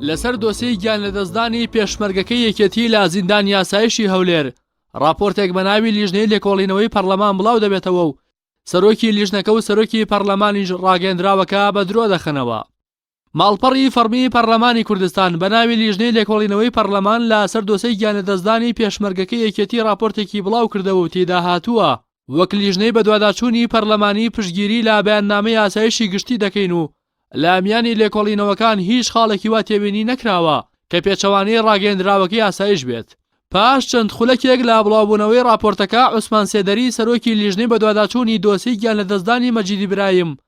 لەسەر دۆسێی گیانلەدەستدانی پێشمەرگەکەی یەکێتی لە زیندانی ئاسایشی هەولێر ڕاپۆرتێک بە ناوی لیژنەی لێکۆڵینەوەی پەرلەمان بڵاو دەبێتەوە و سەرۆکی لیژنەکە و سەرۆکی پەرلەمانیش ڕاگەندراوەکە بە درۆ دەخەنەوە. ماڵپەڕی فەڕمی پەڕلەمانی کوردستان بە ناوی لیژنەی لێکۆڵینەوەی پەڕلەمان لە سەر دۆسێی گیانلەدەستدانی پێشمەرگەکەی یەکێتی ڕاپۆرتێکی بڵاو کردەوە و تێیدا هاتووە، وەک لیژنەی بەدواداچوونی پەڕلەمانی پشتگیری لە بەیاننامەی ئاسایشی گشتی دەکەین و لە میانی لێکۆڵینەوەکان هیچ خاڵێکی وا تێبینی نەکراوە کە پێچەوانەی ڕاگەیەندراوەکەی ئاسایش بێت. پاش چەند خولەکێک لە بڵاوبوونەوەی ڕاپۆرتەکە، عوسمان سێدەری سەرۆکی لیژنەی بەدواداچوونی دۆسێی گیانلەدەستدانی مەجید ئیبراهیم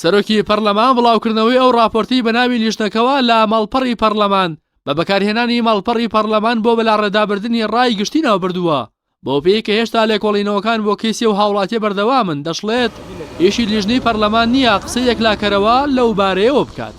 سەرۆکی پەرلەمان بڵاوکردنەوەی ئەو ڕاپۆرتەی بە ناوی لیژنەکەوە لە ماڵپەڕی پەرلەمان بە بەکارهێنانی ماڵپەڕی پەرلەمان بۆ بەلاڕێدابردنی ڕای گشتی ناوبردووە، بەوپێیەی کە هێشتا لێکۆڵینەوەکان بۆ کەیسی ئەو هاوڵاتیە بەردەوامن، دەشڵێت، ئیشی لیژنەی پەرلەمان نییە قسەی یەکلاکەرەوە لەو بارەیەوە بکات.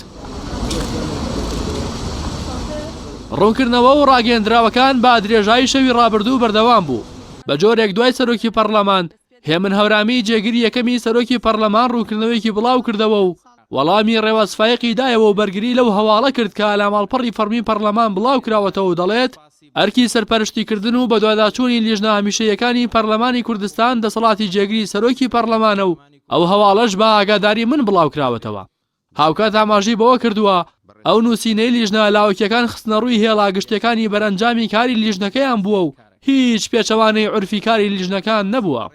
ڕوونکردنەوە و ڕاگەیەندراوەکان بە درێژایی شەوی ڕابردوو بەردەوام بوو، بە جۆرێک دوای سەرۆکی پەرلەمان هێمن هەورامی جێگری یەکەمی سەرۆکی پەڕلەمان ڕوونکردنەوەیەکی بڵاوکردەوە و وەڵامی ڕێواز فایەقی دایەوە و بەرگری لەو هەواڵە کرد کە لە ماڵپەڕی فەڕمی پەڕلەمان بڵاوکراوەتەوە و دەڵێت، ئەرکی سەرپەرشتیکردن و بەدواداچوونی لیژنە هەمیشەییەکانی پەرلەمانی کوردستان دەسەڵاتی جێگری سەرۆکی پەڕلەمانە و ئەو هەواڵەش بە ئاگاداری من بڵاوکراوەتەوە. هاوکات ئاماژەی بەوە کردووە، ئەو نووسینەی لیژنە لاوەکییەکان خستنەڕووی هێڵە گشتییەکانی بەرەنجامی کاری لیژنەکەیان بووە و هیچ پێچەوانەی عورفی کاری لیژنەکان نەبووە.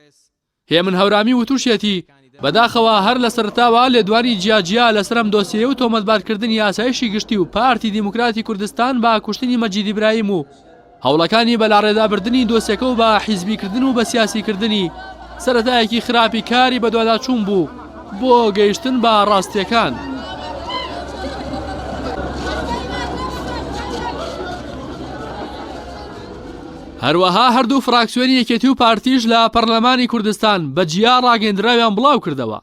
هێمن هەورامی وتوشیەتی، بەداخەوە هەر لە سەرەتاوە لێدوانی جیاجیا لەسەر ئەم دۆسیەیە و تۆمەتبارکردنی ئاسایشی گشتی و پارتی دیموکراتی کوردستان بە کوشتنی مەجید ئیبراهیم و هەوڵەکانی بەلاڕێدابردنی دۆسیەکە و بە حیزبیکردن و بەسیاسیکردنی، سەرەتایەکی خراپی کاری بەدواداچوون بوو بۆ گەیشتن بە ڕاستییەکان. هەروەها هەردوو فراکسیۆنی یەکێتی و پارتیش لە پەرلەمانی کوردستان بە جیا ڕاگەیەندراویان بڵاوکردەوە،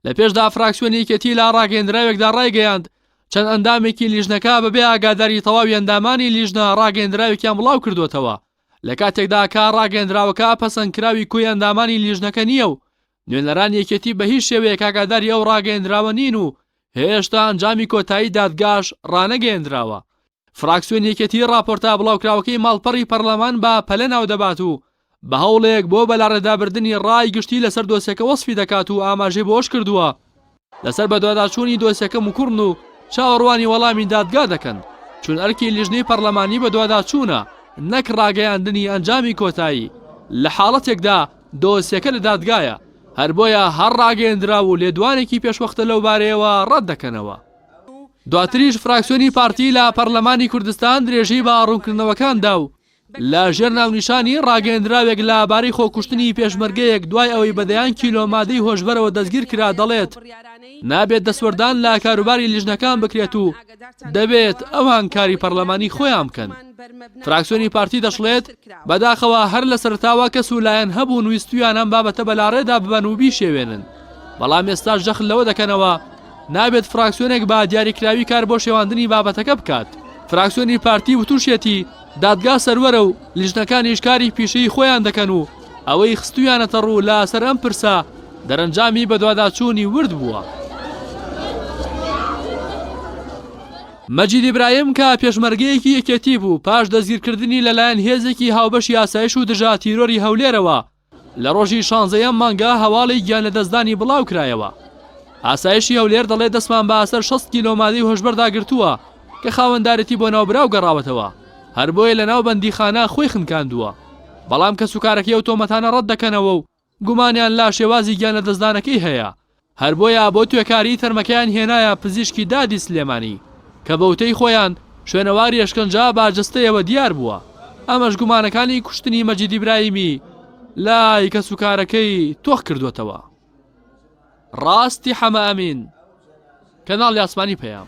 لە پێشدا فراکسیۆنی یەکێتی لە ڕاگەیەندراوێکدا ڕایگەیاند، چەند ئەندامێکی لیژنەکە بەبێ ئاگاداری تەواوی ئەندامانی لیژنە ڕاگەیەندراوێکیان بڵاوکردووەتەوە، لە کاتێکدا کە ڕاگەیەندراوەکە پەسەندکراوی کۆی ئەندامانی لیژنەکە نییە و نوێنەرانی یەکێتی بە هیچ شێوەیەک ئاگاداری ئەو ڕاگەیەندراوە نین و هێشتا ئەنجامی کۆتایی دادگاش ڕانەگەیەندراوە. فراکسیۆنی یەکێتی ڕاپۆرتە بڵاوکراوەکەی ماڵپەڕی پەرلەمان بە پەلە ناودەبات و بە هەوڵێک بۆ بەلاڕێدابردنی ڕای گشتی لەسەر دۆسیەکە وەسفی دەکات و ئاماژەی بەوەش کردووە، لەسەر بەدواداچوونی دۆسیەکە موکوڕن و چاوەڕوانی وەڵامی دادگا دەکەن، چون ئەرکی لیژنەی پەڕلەمانی بەدواداچوونە نەک ڕاگەیاندنی ئەنجامی کۆتایی، لە حاڵەتێکدا دۆسیەکە لە دادگایە، هەر بۆیە هەر ڕاگەیەندراو و لێدوانێکی پێشوەختە لەو بارەیەوە ڕەت دەکەنەوە. دواتریش فراکسیۆنی پارتی لە پەڕلەمانی کوردستان درێژەی بە ڕوونکردنەوەکان دا و لە ژێر ناونیشانی، ڕاگەیەندراوێک لە بارەی خۆکوشتنی پێشمەرگەیەک دوای ئەوەی بە دەیان کیلۆ مادەی هۆشبەرەوە دەستگیر کرا دەڵێت، نابێت دەستوەردان لە کاروباری لیژنەکان بکرێت و دەبێت ئەوان کاری پەرلەمانی خۆیان بکەن. فراکسیۆنی پارتی دەشڵێت، بەداخەوە هەر لە سەرەتاوە کەس و لایەن هەبوون ویستوویان ئەم بابەتە بەلاڕێدا ببەن و بیشێوێنن، بەڵام ئێستاش جەخت لەوە دەکەنەوە، نابێت فراکسیۆنێک بە دیاریکراوی کار بۆ شێواندنی بابەتەکە بکات. فراکسیۆنی پارتی وتوشیەتی، دادگا سەروەرە و لیژنەکانیش کاری پیشەیی خۆیان دەکەن و ئەوەی خستوویانەتە ڕوو لە سەر ئەم پرسە دەرەنجامی بەدواداچوونی ورد بووە. مەجید ئیبراهیم کە پێشمەرگەیەکی یەکێتی بوو پاش دەستگیرکردنی لەلایەن هێزێکی هاوبەشی ئاسایش و دژە تیرۆری هەولێرەوە، لە ڕۆژی شانزە یەم مانگە هەواڵی گیانلەدەستدانی بڵاوکرایەوە. ئاسایشی هەولێر دەڵێت دەستمان بە ئاسەر شەست کیلۆ مادەی هۆشبەردا گرتووە کە خاوەندارێتی بۆ ناوبراو گەڕاوەتەوە، هەر بۆیە لە ناو بەندیخانە خۆی خنکاندووە. بەڵام کەسوکارەکەی ئەو تۆمەتانە ڕەتدەکەنەوە و گومانیان لا شێوازی گیانلەدەستدانەکەی هەیە. هەر بۆیە بۆ توێکاری تەرمەکەیان هێنایە پزیشکی دادی سلێمانی کە بە وتەی خۆیان شوێنەواری ئەشکەنجە بە جەستەیەوە دیار بووە، ئەمەش گومانەکانی کوشتنی مەجید ئیبراهیمی لای کەسوکارەکەی تۆخ کردووەتەوە. ڕاستی حەمە ئەمین، کەناڵی ئاسمانی پەیام.